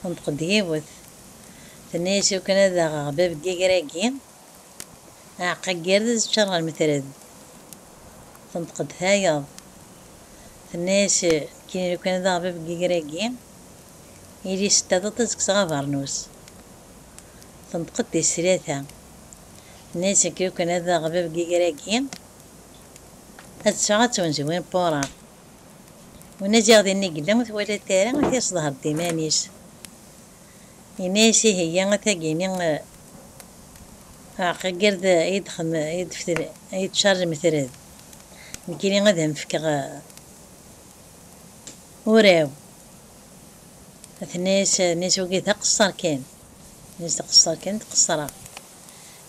Tenṭeq-d yiwet, tenna-yas iwakken ad aɣeɣ bab n yiger-agi, aɛeqqa n yired ad ččaṛ ɣer metred. Tenṭeq-d tayeḍ, tenna-yas nekkini lukan ad aɣeɣ bab n yiger-agi, ili s taḍuṭ ad kkseɣ abeṛnus. Tenṭeq-d tis tlata, tenna-yas nekk lukan ad aɣeɣ bab n yiger-agi, ad tteffɣeɣ ad ttwenziwineɣ wuṛaṛ. Unajiɣ din i yella ur twalatt ara ad t-yesḍher d iman-is. Yenna-yas ihi ya a tagini aɛqaggird a yi-d-tcar lmetred, nekkini ad am-fkeɣ uraw. Tenna-yas, tenna-yas wagi d aqesser kan. Tenna-yas d aqesser kan d qesreɣ.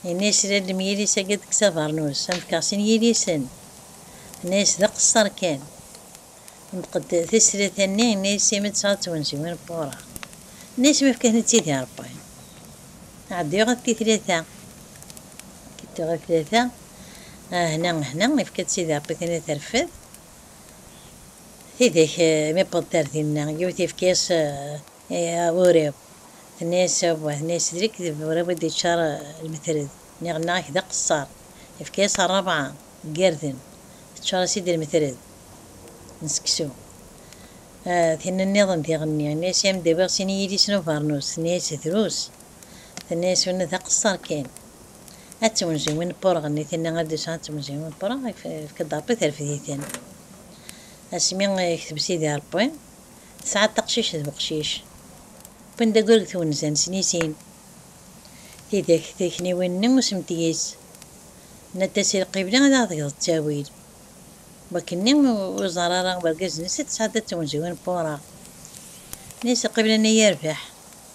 Yenna yas lallem yilis agi deg Savernus am fkeɣ sin yilisen. Yenna yas d aqesser kan. Yenṭeq-d tislit a nni yenna yas imi tesɛa twenziwin n wureɣ. Yenna yas mi fka ten id i Rebbi. Ɛeddi ɣef ti tlata. Ɛeddi ɣef tlata ah hna hna ifka-d sidi Rebbi tin a terfed. Tidak mi wwḍent ar dinna yiwet ifka yas. Awurriɣ, tenna-yas Rebwa, tenna-yas d lekdeb, Rebwa i d-yeččar lmetred, nniɣ-nneɣ ak d aqeṣṣar, yefka-yas rrebɛa n yirden, teččar-as-id lmetred n seksu. Tinna nniḍen d iɣenni, yenna-yas i am-d-awiɣ sin n yidis n ubernus, tenna-yas drus, tenna-yas winna d aqeṣṣar kan, ad tewnzen win n pureɣ-nni, tinna ad d-yesɛu ad tewnzen win n pureɣ, yefka-d Rebbi terfed-iten. Asmi i yekteb Sidi Rebbi. Tesɛa taqcict d uqcic. Wwin-d aggur deg twenza n Snisin. Tidak trekniwin-nni usemtiyis. Nna-d-as i Lqibli ad aɣ-d-geḍ ttawil. Wakken-nni ur iẓerr ara wergaz-nnes i tesɛedda d twenziwin n Pura. Nna-as Lqibli-nni yerbeḥ.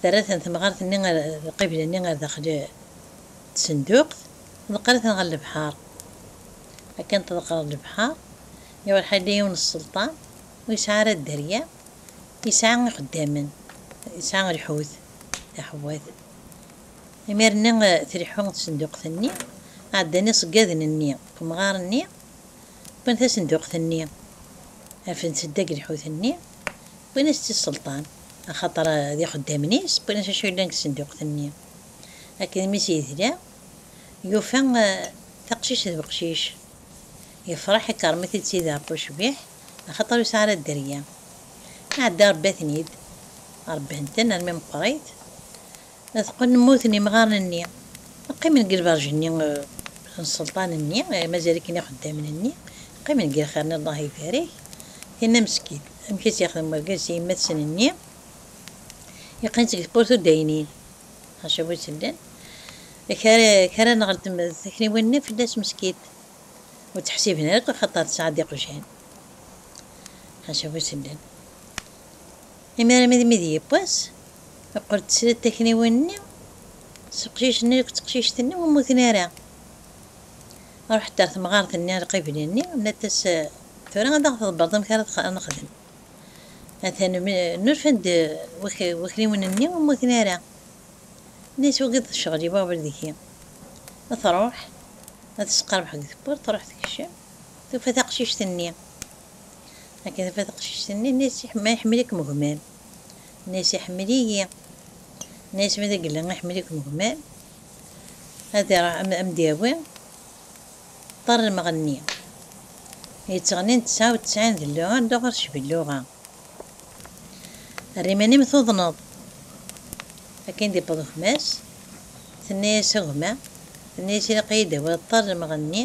Terra-ten temɣart-nni ar lqibla-nni ar daxel tsenduqt, ḍeqqer-iten ɣer lebḥer. Akken tḍeqqreḍ lebḥer, iruḥ yella yiwen n sselṭan ur yesɛi ara dderya, yesɛa ixeddamen, yesɛa lḥut, taḥewwat. Imir-nni tleḥḥu tsenduqt-nni, ɛeddan iṣeggaden-nni temɣar-nni, wwin tasenduqt-nni, rfan-tt deg lḥut-nni, wwin-as-tt i sselṭan. Axaṭer d ixeddamen-is wwin-as acu yellan deg tsenduqt-nni. Akken mi s-yedla, yufa taqcict d weqcic. Yefreḥ, ikerrem-it-id s ideṛṛu ucbiḥ, axaṭer ur yesɛi ara dderya. Iɛedda iṛebba-ten-id. Ṛebban-ten armi meqqrit. Teqqen mmuten imɣaren-nni. Qqimen deg lberǧ-nni n sselṭan-nni, mazal-iken ixeddamen-nni, qqimen deg lxir-nni Allah ibarik. Tenna Meskid, Amek i tt-yexdem wergaz s yemma-tsen-nni? Yeqqen-tt deg tewwurt ur d-aynin. Ḥaca bu sellen. Kra-n ɣer takniwin-nni fell-as Meskid. Ur tt-ḥsiben ara akk axaṭer tesɛa-d iqjan. Ḥaca bu sellen. Imi armi d mi d yiwwas, yeqqel-d srid takniwin-nni s uqcic-nni akked teqcict-nni ur mmuten ara. Iruḥ-d ɣer temɣart-nni alqibli-nni, yenna-as, Tura ad aɣ-tḍebbreḍ amek ara nexdem. Atan nurfa-d wakniwen-nni ur mmuten ara. Ini-as, Wagi d ccɣel-iw aɣbel deg-i. Truḥ ad tesqerbeḥ deg tewwurt, truḥ tkeccem, tufa taqcict-nni. Akka tebda teqcict-nni, tenna-yas, Ma iḥemmel-ikem gma-m? Tenna-yas, Iḥemmel-iyi. Tenna-yas, Ma d agella iḥemmel-ikem gma-m, ad am-d-yawi ṭṭer n lmeɣnni yettɣennin tesɛa u tesɛin d lluɣa ddu ɣer tecbelluɣa, err iman-im tuḍneḍ. Akken d-yewweḍ gma-s, tenna-yas, A gma, tenna-yas, ilaq-iyi-d tawiḍ ṭṭer n lmeɣnni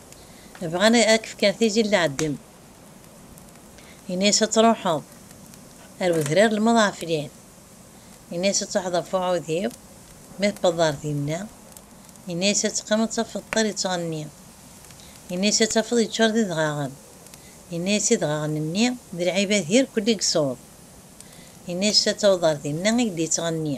Bɣan ad k-fken tigi n lɛeddem. Ini-as ad truḥeḍ ar wedrar n lmeḍɛeflin. Ini-as ad truḥeḍ ɣef uɛudiw, ma tewweḍeḍ ar dinna. Ini-as ad teqqimeḍ ad tafeḍ ṭṭir yettɣenni. Ini-as ad tafeḍ yeččur d idɣaɣen. Ini-as idɣaɣen-nni d lɛibad irkelli deg ṣṣut. Ini-as ad tawḍeḍ ar dinna i k-d-yettɣenni.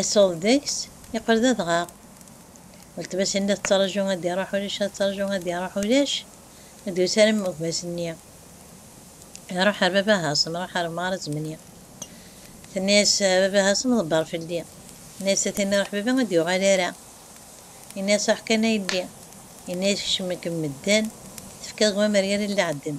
Isuḍ deg-s, yeqqel d adɣaɣ. Weltma-s-nni la tettṛaju ad d-iṛuḥ ulac, la tettṛaju ad d-iṛuḥ ulac, ur d-yusi ara gma-s-nni. Iṛuḥ ɣer baba Haṣem, iṛuḥ ɣer Meɣra Zemni. Tenna-yas, A baba Haṣem, ḍebbeṛ fell-i. Yenna-yas, A tin iṛuḥ baba ur d-yuɣal ara. Yenna-yas, Ruḥ kan a yelli. Yenna-yas, Kecmen-kem medden, tefkiḍ gma-m ar yiri n leɛdem.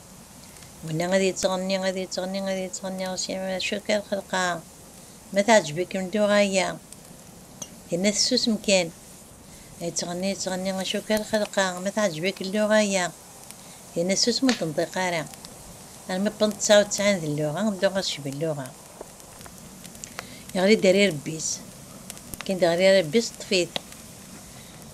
Winna ad yettɣenni, ad yettɣenni, ad yettɣenni ɣer-s d acu akka lxelqa? Ma teɛǧeb-ikem dduṛaya, tinna tessusem kan. Yettɣenni, yettɣenni, acu akka lxelqa? Ma teɛǧeb-ik lluɣa-ya, tinna ssusem ur d-tenṭiq ara. Armi wwḍent ttɛa u ttɛin d lluɣa, dduṛa tecba lluɣa. Yeɣli-d ar irebbi-s, kkin-d ɣer irebbi-s, ṭṭef-it.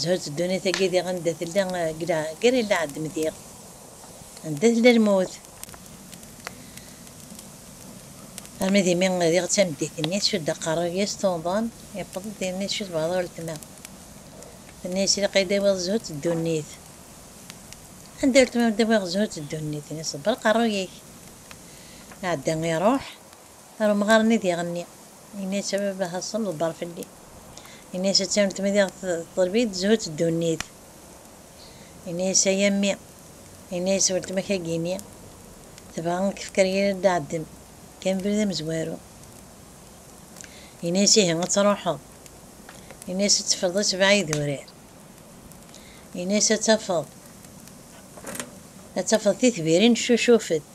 Zhu-tt ddunit-agi diɣ anda tella gar illaɛedm diɣ anda tella lmut. Armi d imi diɣ d tameddit-nni tcudd aqerruy-is tuḍen, yewweḍ-d yerna tcudd baɛḍ uletma. Tenna-yas ilaq ad yi-d-tawiḍ Zhu-tt ddunit. Anda uletma ur d-awiɣ Zhu-tt ddunit? Ini ṣebber aqerruy-ik. Iɛedda iruḥ. Ar umɣar-nni ad iɣenni. Yenna-yas a baba Haṣun ḍebber fell-i. Yenna-yas a Tawnemt ma diɣ teḍleb-iyi-d zzhu d ddunit. Yenna-yas a yammi. Yenna-yas weltma-k a Gini tebɣa a k-fker yir ad d-ɛeddem kan abrid amezwaru. Yenna-yas ihi ad truḥeḍ. Yenna-yas ad teffreḍ a sebɛa idurar. Yenna-yas ad tafeḍ ad tafeḍ titbirin ccucufent.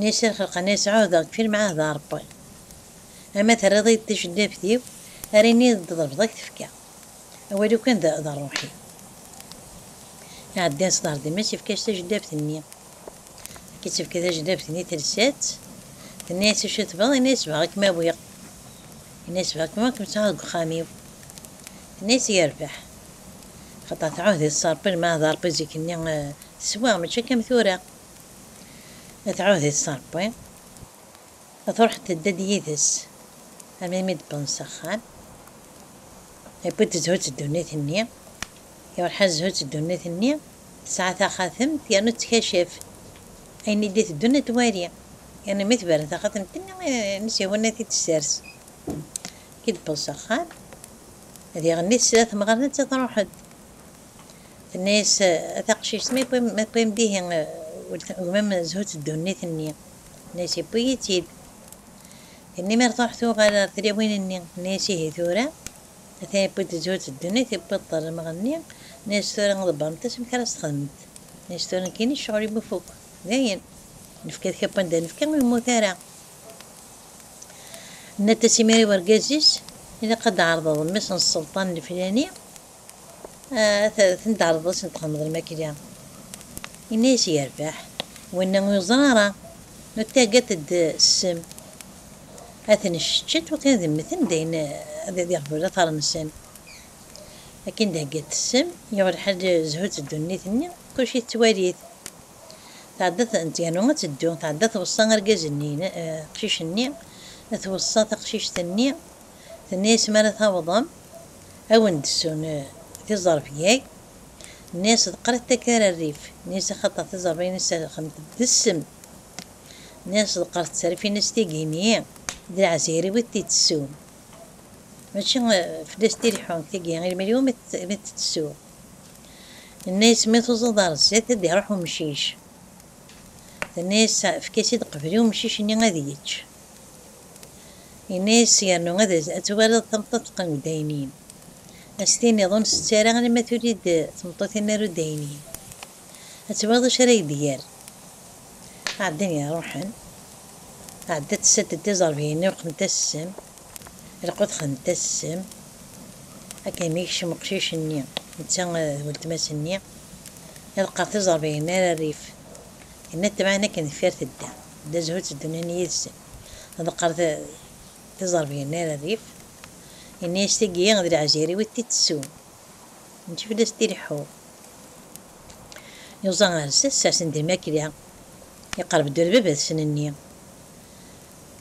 Nisa xelqen-as ɛuhdeɣ deg yifir mɛahdeɣ a Rebbi, ama terriḍ-iyi-d taceddaft-iw ara iniɣ d ḍelbeḍ a k-tefka, awal-iw kan d d rruḥ-iw. Iɛeddan s ḍher d Mass ifka-as tajeddaft-nni. Akken i tt-ifka tajeddaft-nni telsa-tt, tenna-as acu tebɣiḍ, yenna-as bɣiɣ a kem-awiɣ, yenna-as bɣiɣ kan a kem-sɛuɣ deg uxxam-iw, tenna-as yerbeḥ, axaṭer tɛuhdeḍ s Rebbi lmeɛna d Rebbi zik-nni teswa mačči akka am tura. Tɛuhd-it s Ṛebbi, truḥ tedda-d yid-s am imi d-wwḍen s axxam. Yewwi-d zzhu d ddunit-nni. Iṛuḥ-as zzhu d ddunit-nni, tesɛa taxatemt yernu tettkacaf ayen i d-iteddun ad twali, yernu mi tberren taxatemt-nni n Siwun ad t-id-tessers. Akken i d-wweḍ s axxam, ad iɣenni tesla temɣart ad truḥ-d. Tenna-yas taqcict, Ma tewwim-d ihi gma-m zhu-tt ddunit-nni. Tenna-yas, Yewwi-yi-tt-id. Tinni mi tṛuḥ tuɣal ɣer tlawin-nni, tenna-yas, Ihi tura? Atan yewwi-d zhu-tt ddunit, yewwi-d ṭermeɣ-nni. Tenna-yas, Tura ḍebbremt-as amek ara s-txedmemt. Tenna-yas, Tura nekkini ccɣel-im ifukk, dayen. Nefka ad k-abban da nefka, ur yemmut ara. Tenna-t-as imir i wergaz-is, Ilaq ad d-tɛerḍeḍ mmi-s n sselṭan lflani. Tendeɛreḍ-as n txedmeḍ lmakla. Yenna-as yerbeḥ winna ur yeẓri ara. Nuttagad-d ssem. Ad ten-cceččet wakken ad mmten dayen ad iɣbu later-nsen. Akken d-heggat ssem, yuɣ lḥal zhut ddunit-nni, kulci tettwali-t. Tɛedda yernu ad teddu. Tɛedda tweṣṣa argaz-nni, aqcic-nni, tweṣṣa taqcict-nni, Tenna-yas, Mi ara tawḍem, ad wen-d-ssun tiẓerfyag. Nenna-yas, D qrib taggara rrif. Nenna-yas, Axaṭer tiẓerfyag-nni sserxent d ssem. Nenna-yas, D qrib tserfin-as tigi-nni, d lɛezhir i wid t-itessun. Mačči fell-as t-ileḥḥun deg tigi, i lmal-iw mi t-ttessuɣ. Nenna-yas, Mi tuẓeḍ ɣer zdat, ad d-iruḥ umcic. Tenna-yas, Efk-as-id qbel i umcic-nni ad yečč. Yenna-as yernu ad twaliḍ tameṭṭut teqqen deg uddaynin, ad s-tiniḍ ur nsett ara alamma tuli-d tmeṭṭut-nni ar uddaynin, ad twaliḍ acu ara yi-d-yerr. Ɛeddan iruḥen, tɛedda tessad-d iẓerbiyen-nni ur qqnent-as ssem, lqut xnent-as ssem, akken mi yekcem uqcic-nni netta d weltma-s-nni, iḍeqqer tiẓerbiyin-nni ar rrif, yenna-d temɛen akken deffir tedda. D azhu tteddunin yid-sen. Ḍeqqer tiẓerbiyin ar rrif. Yenna-yas tigi d lɛezir-iw i t-ittessun. Mačči fell-as t-ileḥḥu. Yuẓa ar sas asen di lmakla. Iqerreb-d ula d baba-tsen-nni.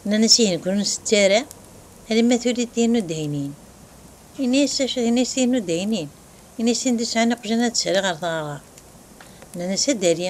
Nnan-as ihi nekkni ur nsett ara alamma tuli-d tin n uddaynin. Yenna-yas acu? Yenna-yas tin n uddaynin. Yenna-yas tin d-isɛan iqjan ad tt-rriɣ ar tɣerɣert. Nnan-as a Dali.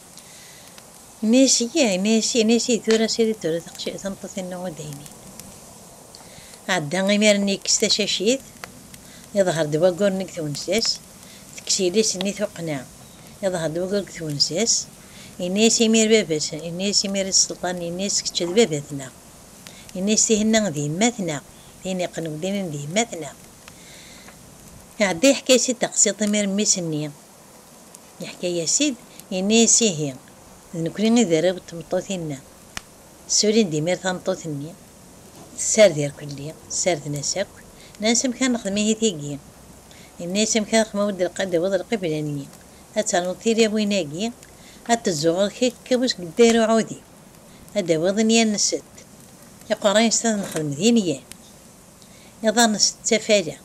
Messi, yah Messi, Messi tura sirid tura tameṭṭut-inu n udaynin. Ɛedda imir-nni yekkes tacacit, iḍher-d waggur-nni deg twenza-s, tekkes yelli-s-nni tuqqna, iḍher-d waggur deg twenza-s, yenna-as imir baba-s, yenna-as imir i Selṭan, yenna-as kečč d baba-tneɣ, yenna-as tihin-a d yemma-tneɣ, tihin iqqen wedaynin d yemma-tneɣ. Iɛedda yeḥka-as-id taqsiḍt imir mmi-s-nni. Yeḥka-yas-id, yenna-yas, Ihi, d nekkni i d arraw n tmeṭṭut-inna. Ssulin-d imir tameṭṭut-nni, tessared irkelli, ssarden-as akk, nnan-as, Amek ara nexdem ihi tigi? Yenna-yas, Amek ara xdmeɣ wi d-lqad tawiḍ lqibla-nni, ad ternuḍ tilawin-agi, ad tezzuɣ ɣer-k akka wis gedda ɣer uɛudiw, ad d-tawiḍ inya n sett, iqerra n sett ad nexdem d inyan, iḍar n sett d tafala,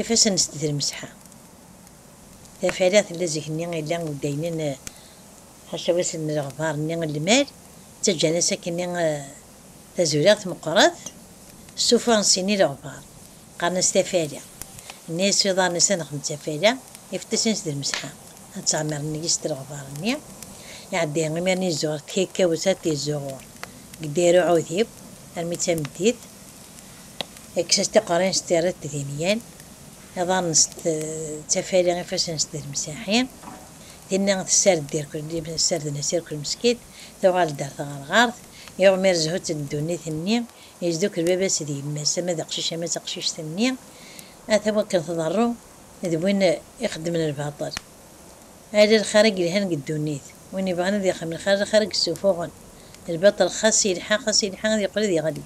ifassen n sett d lmesḥa. Tafala tella zikenni illa deg waynen ḥacaw-as n leɣbar-nni n lmal, ttaǧǧan-as akkenni tazuriɣt meqqret, stufa n sin ileɣbar, qqaren-as tafala, nna-as iḍarren-is ad nexdem tafala, ifeṭṭisen-is d lmesḥa, ad ttɛemmiren yis d leɣbar-nni, iɛedda imiren izuɣer tkakawt ad t-izzuɣur deg dayra uɛudiw armi d tameddit, yekkes-as tiqerrin s tirret d inyen. Iḍarren-s d tafali, ifassen-s d lemsaḥi. Tinna tessared-d irkel, ssarden-as irkel meskit, tuɣal-d ar tɣerɣert. Iɣmi ar zhu-tt n ddunit-nni, yesdukel baba-s d yemma-s, ama d aqcic ama d taqcict-nni, ata wakken tḍerru d win ixeddmen lbaṭel. Ala lxir i yelhan deg ddunit, win ibɣan ad ixdem lxir, lxir i yessufuɣen, lbaṭel xas yelḥa xas yelḥa ad yeqqel ad yeɣli.